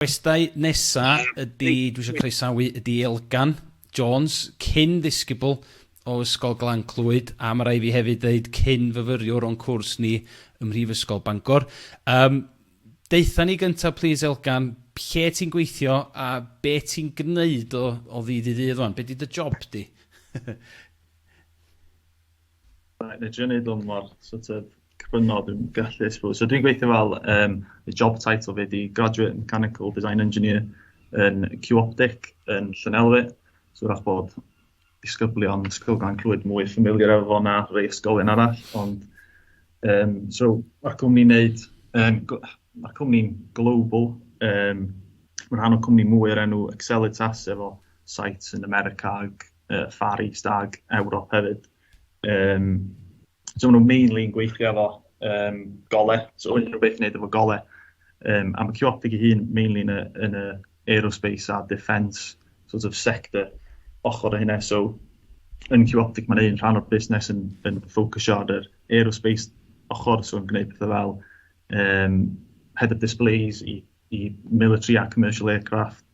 Gwestai nesa ydi, dwi isio croesawu ydi Elgan Jones, cyn ddisgybl o Ysgol Glan Clwyd, a ma rai fi hefyd ddeud cyn fyfyriwr o'n cwrs ni ym Mhrifysgol Bangor. Um, Deitha ni gyntaf, please Elgan, lle ti'n gweithio a be ti'n gneud o, o ddydd i ddydd o'n? Be di dy job di? Right, na i drio neud hwn mor sort of cryno dwi'n gallu, I suppose. So dwi'n gweithio fel, um, y job title fi di Graduate Mechanical Design Engineer yn Q-Optic yn Llanelwy. So wrach bod disgyblion Ysgol Gan Clwyd mwy ffamiliar efo fo na rei ysgolion arall, ond um, so mae'r cwmni'n neud, um, mae'r cwmni'n global, um, mae'n rhan o cwmni mwy o'r enw Accelitas efo sites yn America ac uh, Far East ag Ewrop hefyd. Um, so maen nhw'n mainly yn gweithio efo um, gole, so yn rhywbeth wneud efo gole. Um, a mae Ciotig ei hun mainly yn y, yn y aerospace a defence sort of sector ochr o hynna. So yn Ciotig mae'n un rhan o'r busnes yn, yn ffocysio ar yr aerospace ochr, so yn gwneud pethau fel um, head of displays i, i military a commercial aircraft,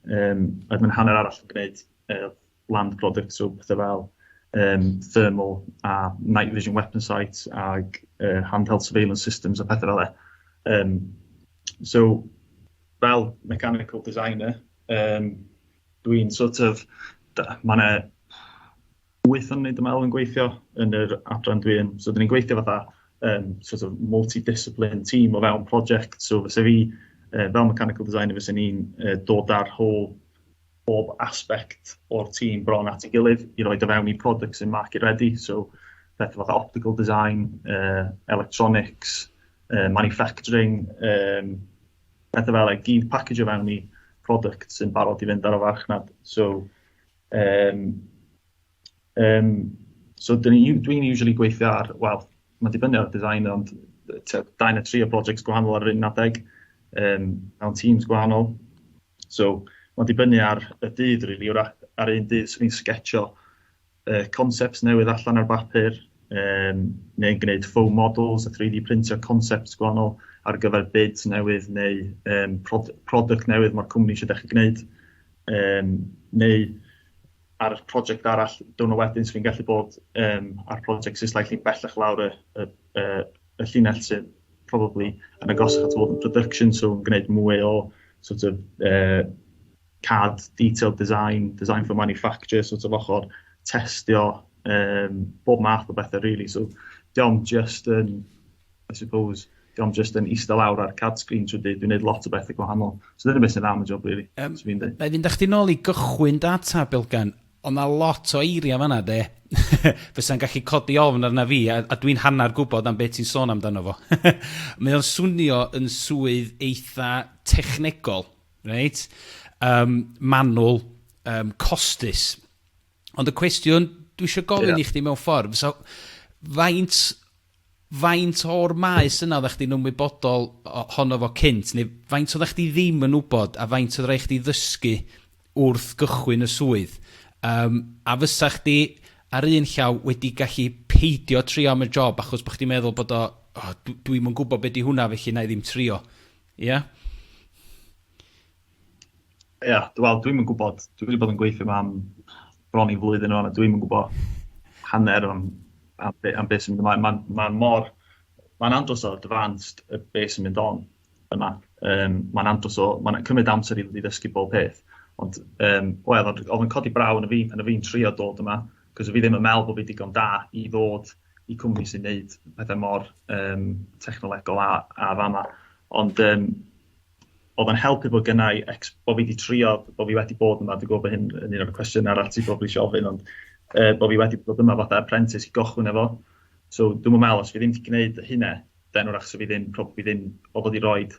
um, a mae'n hanner arall yn gwneud uh, land products, so pethau fel um, thermal a night vision weapon sights ag uh, handheld surveillance systems a pethau fel e. Um, so, fel mechanical designer, um, dwi'n sort of, mae yna wyth o'n wneud ymwneud yn gweithio yn yr adran dwi yn. So, dyn ni'n gweithio fatha um, sort of multidiscipline team o fewn project. So, fysa fi, uh, fel mechanical designer, fysa ni'n uh, dod ar whole bob aspect o'r tîm bron at ei gilydd i roid o fewn i product sy'n market ready. So, pethau fatha optical design, uh, electronics, uh, manufacturing, um, pethau fel ei gyd package o fewn i product sy'n barod i fynd ar y farchnad. So, um, um, so dwi'n dwi usually gweithio ar, wel, mae'n dibynnu ar y design, ond da yn y tri o projects gwahanol ar yr un adeg, um, mewn teams gwahanol. So ma'n dibynnu ar y dydd rili, wrach ar un dydd swn i'n sgetsio yy concepts newydd allan ar bapur, um, neu'n gwneud foam models a 3D printio concepts gwahanol ar gyfer bids newydd neu um, prod product newydd mae'r cwmni eisiau dechrau gwneud, um, neu ar y prosiect arall, dwi'n wedyn sy'n gallu bod um, ar prosiect sy'n slightly bellach lawr y, y, y, y llinell sydd probably yn agosach at fod yn production, so yn gwneud mwy o sort of uh, CAD, detailed design, design for manufacture, sort of ochr testio, um, bob math o bethau really. So diolch just yn, I suppose, diolch just yn eistedd lawr ar CAD screen trwy dyd, dwi'n gwneud lot o bethau gwahanol. So dyna beth sy'n am y job really. Um, so fi'n dweud. Fe fynd â chdi nôl i gychwyn data, Bilgan, Odd 'na lot o eiria' fan 'na 'de fysa'n gallu codi ofn arna fi a a dwi'n hannar gwbod am be' ti'n sôn amdano fo. Mae o'n swnio yn swydd eitha technegol, reit? Yym manwl, yym costus. Ond y cwestiwn dwi isio gofyn... Ia. ...i chdi mewn ffordd fysa faint Faint o'r maes yna oeddach chdi'n ymwybodol ohono fo cynt, neu faint oeddach chdi ddim yn wybod, a faint oedd rhaid chdi ddysgu wrth gychwyn y swydd? Yym, a fysa chdi, ar un llaw, wedi gallu peidio trio am y job achos bod chdi'n meddwl bod o, o, dw- dwi'm yn gwybod be 'di hwnna felly 'na i ddim trio. Ia? Ia, yeah, wel, dwi'm yn gwybod. Dwi wedi bod yn gweithio yma am bron i flwyddyn o'n, a dwi'm yn gwybod hanner am, am, be, am beth sy'n mynd ymlaen. Mae'n ma mor... Mae'n andros o advanced y beth sy'n mynd on yma. Um, mae'n andros o... Mae'n cymryd amser i ddysgu bob peth. Ond, um, wel, oedd yn codi braw yn y fi, yn y fi'n trio dod yma, cos fi ddim yn meddwl bod fi digon da i ddod i cwmni sy'n neud pethau mor um, technolegol a, a fama. Ond, um, O'dd o'n helpu bod gynna i ex- bo' fi 'di trio, bo' fi wedi bod yma, dwi gwbo bo hyn yn un o'r cwestiyna arall ti probably isio ofyn ond yy bo' fi wedi bod yma fatha apprentice i gochwyn efo so dwi'm yn me'wl os fi ddim 'di gneud y hynne then 'w'rach sa fi ddim probably ddim o fod i roid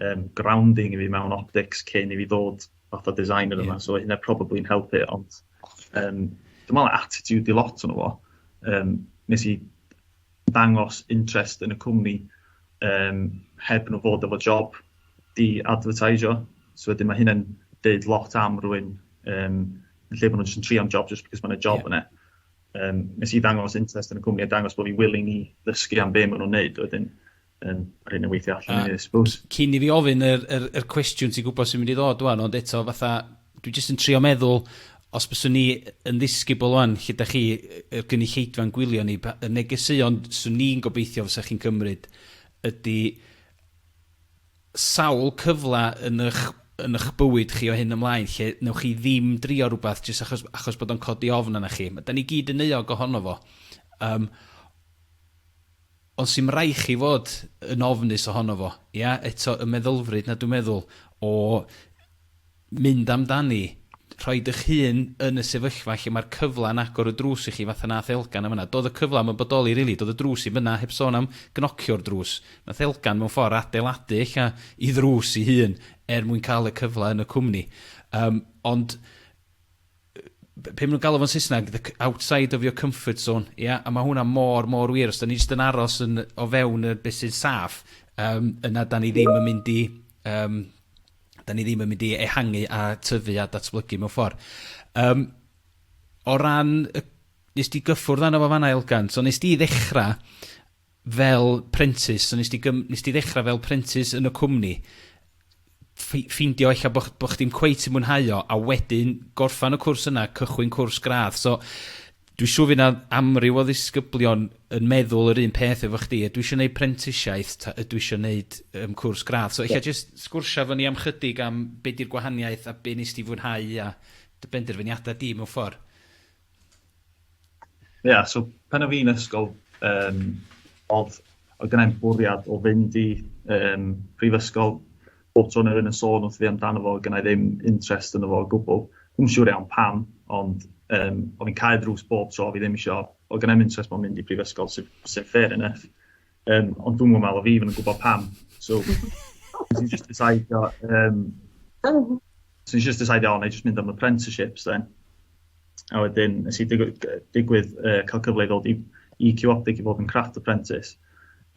yym grounding i fi mewn optics cyn i fi ddod fatha designer yma so o' hynne probably'n helpu ond yym dwi me'wl attitude 'di lot ono fo yym nes i dangos interest yn y cwmni yym heb nhw fod efo job i adfyrtaisio. So wedyn ma' hynna'n deud lot am rywun yym yn lle bo' nhw'n jyst yn trio am job jyst because ma' 'na job yeah. yna. Um, nes i ddangos interest yn y cwmni a dangos bod fi willing i ddysgu am be' ma' nhw'n neud wedyn yn yr hyn yn weithio allan i ni, I suppose. Cyn i fi ofyn yr, yr, yr cwestiwn ti'n gwybod sy'n mynd i ddod wan, ond eto fatha, dwi jyst yn trio meddwl, os byswn ni yn ddisgybl wan, lle da chi, y gynulleidfa'n gwylio ni, y negeseuon swn ni'n gobeithio fysa chi'n cymryd ydy sawl cyfle yn eich, yn eich bywyd chi o hyn ymlaen lle newch chi ddim drio rhywbeth jyst achos, achos bod o'n codi ofn yna chi. Da ni gyd yn euog ohono fo. Um, Ond sy'm rai chi fod yn ofnus ohono fo, ia? Eto y meddylfryd 'na dwi'n meddwl o mynd amdani, rhoi dych hun yn y sefyllfa lle mae'r cyfla'n agor y drws i chi fatha nath Elgan yn fan'na. Do'dd y cyfla 'im yn bodoli rili, do'dd y drws 'im yna, heb sôn am gnocio'r drws. Nath Elgan mewn ffor adeiladu ella 'i ddrws 'i hun er mwyn ca'l y cyfla yn y cwmni. Yym ond be ma' nhw'n galw fo'n Saesneg, the c- outside of your comfort zone, ia? A ma' hwnna mor, mor wir. Os 'dan ni jyst yn aros yn o fewn y be' sy'n saff, yym, yna 'dan ni ddim yn mynd i, yym, 'dan ni ddim yn mynd i ehangu a tyfu a datblygu mewn ffor. Yym, o ran y... Nes di gyffwrdd arno fo fan 'na, Elgan, so nes di ddechra fel prentis, so nes di gym- nes di ddechra fel prentis yn y cwmni, ffi- ffeindio ella bo' ch- bo' chdi'm cweit yn mwynhau o, a wedyn gorffan y cwrs yna, cychwyn cwrs gradd. So dwi siŵr fy' 'na amryw o ddisgyblion yn meddwl yr un peth efo chdi, ydw i isio neud prentisiaeth ta ydw i isio neud yym cwrs gradd? So ella yeah. jyst sgwrsio efo ni am chydig am be' 'di'r gwahaniaeth a be' nes di fwynhau a dy benderfyniada di mewn ffordd. Ie, yeah, so pan o fi'n ysgol, um, oedd, oedd gennau'n bwriad o fynd i um, prifysgol bob tro neu yn y sôn wrth fi amdano fo, gynnau ddim interest yn fo o gwbl. Dwi'n siŵr iawn pam, ond um, oedd fi'n cael drws bob tro, fi ddim eisiau, oedd gynnau'n interest mewn mynd i prifysgol, sy'n sy fair enough. Yym ond dwi'm yn meddwl fi ddim yn gwybod pam. So nes i jyst decidio yym so nes i jyst decidio o 'nai jyst mynd am apprenticeships then. A wedyn nes i digwy- yy digwydd yy ca'l cyfle i ddod i i Q Optic i fod yn craft apprentice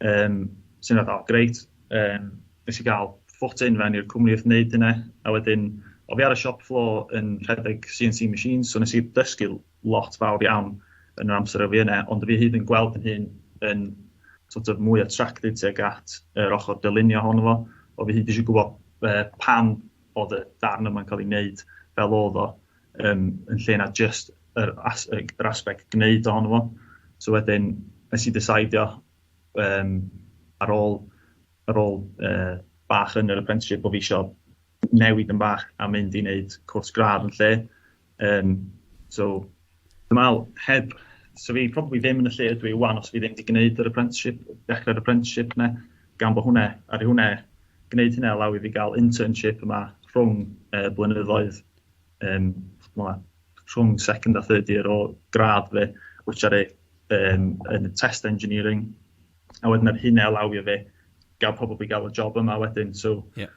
yym sy'n fath o grêt yym nes i ga'l foot in fewn i'r cwmni wrth neud hynna a wedyn o' fi ar y shop floor yn rhedeg See Eye Sim machines so nes i dysgu lot fawr iawn yn yr amser a fi yna, ond fi hyd yn gweld fy hun yn sort of mwy attracted tuag at yr ochr dylunio ohono fo, o fi hyd eisiau gwybod uh, pam oedd y darn yma'n cael ei wneud fel oedd o, um, yn lle na just yr, as, yr aspect gwneud ohono fo. So wedyn, nes i ddesaidio um, ar ôl, ar ôl uh, bach yn yr apprenticeship bod fi eisiau newid yn bach a mynd i wneud cwrs gradd yn lle, Yym so dwi me'wl heb so fi probably ddim yn y lle ydw i ŵan os fi ddim 'di gneud yr apprenticeship dechre'r apprenticeship 'ne gan bo' hwnne aru hwnne gneud hynna allow i fi ga'l internship yma rhwng yy blynyddoedd yym ch'mo' rhwng second a third year o gradd fi which aru yym yn y test engineering a wedyn aru hynna allowio fi ga'l probably ga'l y job yma wedyn so... Ie.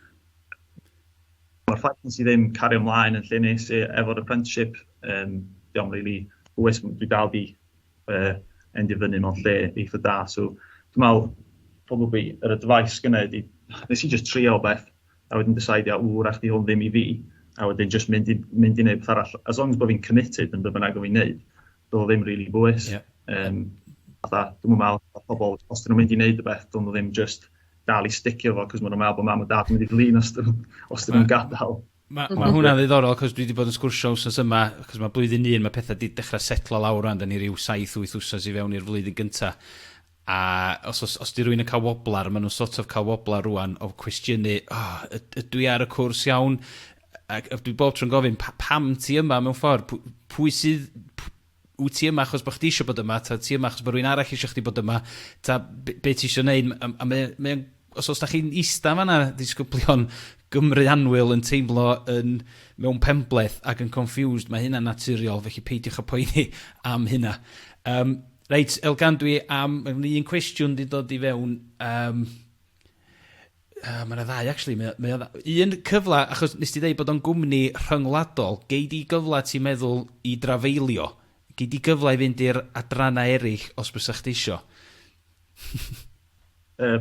Mae'r ffaith nes i ddim cario mlaen yn lle nes i efo'r apprenticeship, um, diolch really hwys, dwi dal di uh, endio fyny mewn lle eitha da, so dwi'n meddwl, probably, yr advice gynnau ydi, nes i just trio beth, a wedyn decide, a wr, ach di hwn ddim i fi, a wedyn just mynd i, mynd i wneud beth arall, as long as bod fi'n committed yn beth bynnag o fi'n neud, do'dd o ddim rili bwys. Ie. Yym fatha dwi'm yn me'wl bo' pobol os 'dyn nw'n mynd i neud rwbeth dylwn nw ddim jyst dal i sticio fo 'c'os ma' nw'n me'wl bo' mam a dad yn mynd i flin os 'dyn nw'n os 'dyn nw'n gadal. Ma' ma' hwnna'n ddiddorol 'c'os dwi 'di bod yn sgwrsio wsos yma 'c'os ma' blwyddyn un ma' petha 'di dechra setlo lawr rŵan 'dan ni ryw saith wyth wsos i fewn i'r flwyddyn gynta A os os os 'di rywun yn cael woblar, ma' nhw'n sort of cael woblar rŵan o cwestiynu, O, yd- ydw i ar y cwrs iawn? A a dwi bob tro'n gofyn, Pa- pam ti yma mewn ffordd? Pw- pwy sydd... p- Wyt ti yma achos bod chdi isio bod yma, ta wyt ti yma achos bod rhywun arall isio chdi bod yma, ta b- be' ti isio neud? M- a a mae o mae o'n Os os da chi'n ista fanna disgyblion Gymru anwyl yn teimlo yn mewn penbleth ac yn confused, mae hynna'n naturiol, felly peidiwch â poeni am hynna. Um, reit, Elgan, dwi am... Mae gen i un cwestiwn wedi dod i fewn. Um, uh, mae yna ddau, actually. Mae, mae yna un cyfle, achos nes ti ddeud bod o'n gwmni rhyngwladol, gei di gyfle ti'n meddwl i drafeilio? Gei di gyfle i fynd i'r adrannau eraill os bys eich ti isio? Yy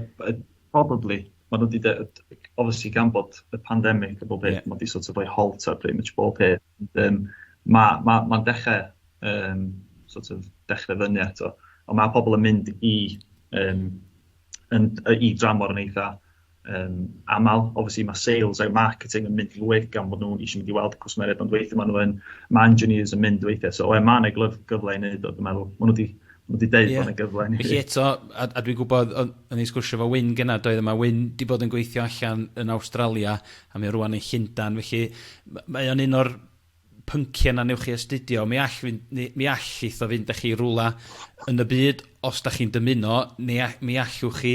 probably ma' nhw wedi de- obviously gan bod y pandemic a bob peth... Ie. ...ma' 'di sort of rhoi halt ar pretty much bob peth ond yym ma' ma' ma'n dechre yym sort of dechre fyny eto ond ma' pobol yn mynd i yym yn yy i dramor yn eitha um, aml. Obviously mae sales a marketing yn mynd lwyth gan bod nhw'n eisiau mynd i weld cwsmeriaid, ond weithio maen nhw'n, mae engineers yn mynd weithiau. So, mae yna gyfle i wneud o, dwi'n meddwl. Maen nhw wedi Mae wedi deud yeah. bod yna gyfle. Felly eto, a, a dwi'n gwybod, o'n i'n sgwrsio fo Wyn gyna, doedd yma Wyn di bod yn gweithio allan yn Awstralia, a mae rwan yn Llundan, felly mae o'n un o'r pynciau na newch chi astudio, mi all fynd, ni, mi all eitho fynd â chi i rwla yn y byd os da chi'n dymuno, ni, mi allwch chi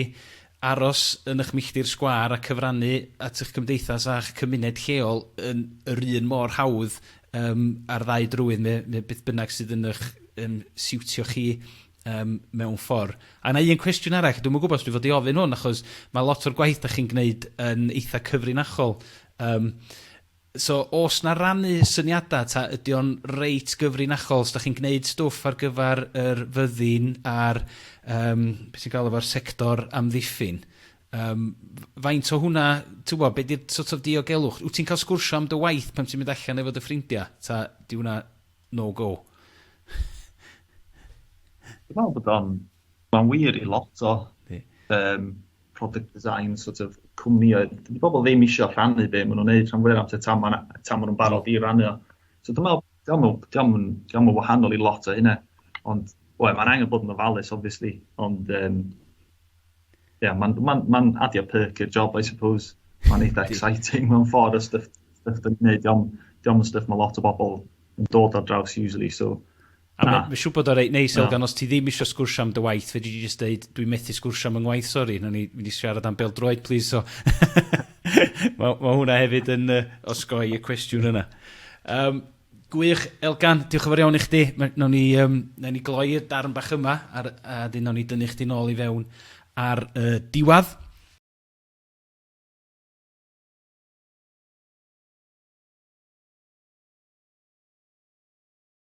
aros yn eich milltir sgwâr a cyfrannu at eich cymdeithas a'ch cymuned lleol yn yr un mor hawdd um, ar ddau drywydd, me, me beth bynnag sydd yn eich um, siwtio chi um, mewn ffordd. A yna un cwestiwn arall, dwi'n gwybod os dwi'n fod i ofyn hwn, achos mae lot o'r gwaith da chi'n gwneud yn eitha cyfrinachol. Um, So o's 'na rannu syniada ta ydi o'n reit gyfrinachol? Os 'dach chi'n gneud stwff ar gyfar yr fyddin a'r yym be' ti'n galw fo'r sector amddiffyn yym f- faint o hwnna t'wbo' be' 'di'r sort of diogelwch? Wt ti'n ca'l sgwrsio am dy waith pan ti'n mynd allan efo dy ffrindia ta 'di wnna no go? Dwi me'wl bod o'n ma'n wir i lot o... Yndi. ...yym product design sort of cwmnïau, dydy pobl ddim eisiau rhannu be maen nhw'n neud rhan fwyaf amser tan maen nhw'n barod i rannu o. So dwi'n meddwl, diolch yn wahanol i lot o hynna, ond we, mae'n angen bod yn ofalus, obviously, ond um, yeah, mae'n ma ma adio perk i'r job, I suppose. Mae'n eitha exciting mewn ffordd o stuff, stuff dwi'n gwneud, diolch yn stuff mae lot o bobl yn dod ar draws usually, so A mae siŵr bod o'n reit neis, Elgan, os ti ddim eisiau sgwrsio am dy waith, fe dwi wedi just dweud, dwi'n methu sgwrsio am yng ngwaith, sori, na ni wedi siarad am beldroed, please, so... mae, mae hwnna hefyd yn uh, osgoi y cwestiwn yna. Um, gwych, Elgan, diolch yn fawr iawn i chdi. Nawn ni, um, nawn ni gloi'r darn bach yma, ar, a dyn nawn ni dynnu chdi nôl i fewn ar uh, diwad.